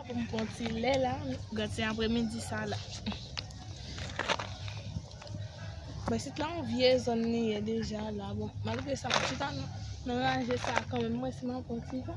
pou m pon ti lè la, gad se apre midi sa la. Mwen sit la an vye zon ni ye deja la, bon, malgre sa mwen sit an nan ranje sa a kanmen, mwen si mwen pon ti lè.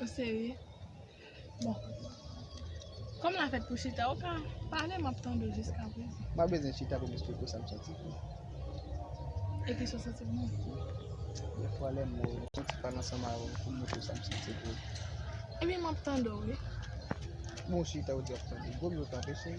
Ou serye? Bon. Kòm la fèt pou chita, ou ka pale m ap tande w jiska prezan. M pa bezwen chita pou m esplike w sa m santi pou mwen. E ki sa w santi pou mwen? Dè fwa lè m wè w, m santi pa nan san m a wè w pou m montre w sa m santi pou ou. Ebyen m ap tande w wi. Bon chita ou di w ap tande. Gwo mi ou tanpri cheri.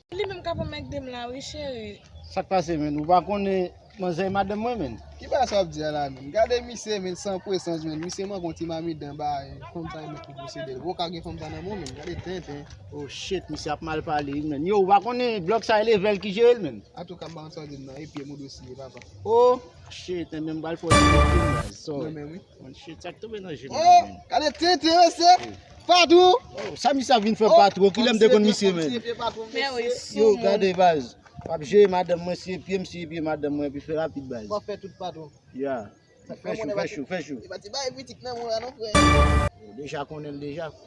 Li menm kap anmègde m la wi cheri. Sak pase menn ou pa konnen manzè e madanm mwen menn. Ki bagay sa wap di a la menn gade misye menn san pwesans menn misye manke yon ti mamit dan ba fanm sa li menm ki posede l ou paka gen fanm sa nan menw menn gade tenten. Oh shit misye ap mal pale wi menn yow ou pa konnen blòk sa e level ki jere l menn. Atouka m pa konn sa wap di m nan e pyem ou dwe siye papa. Oh shit enben m pral fè w siye pyem baz sorry. Mwen chè tsak tou mwen nan jè mwen mwen. Oh! Kade te te yo se! Patou! Oh! Sa misye ap vin fè patou oh! Kilèm de kon misye men? Mwen se pye patou mwen se. Mwen wè sou mwen. Yo gade baz. Wap jè madèm mwen se pye misye pye madèm mwen epi fè rapid baz. Wap fè tout patou. Ya. Fè chou fè chou fè chou. Epa ti bay pitit nan mwen la non frè. Deja konnen deja.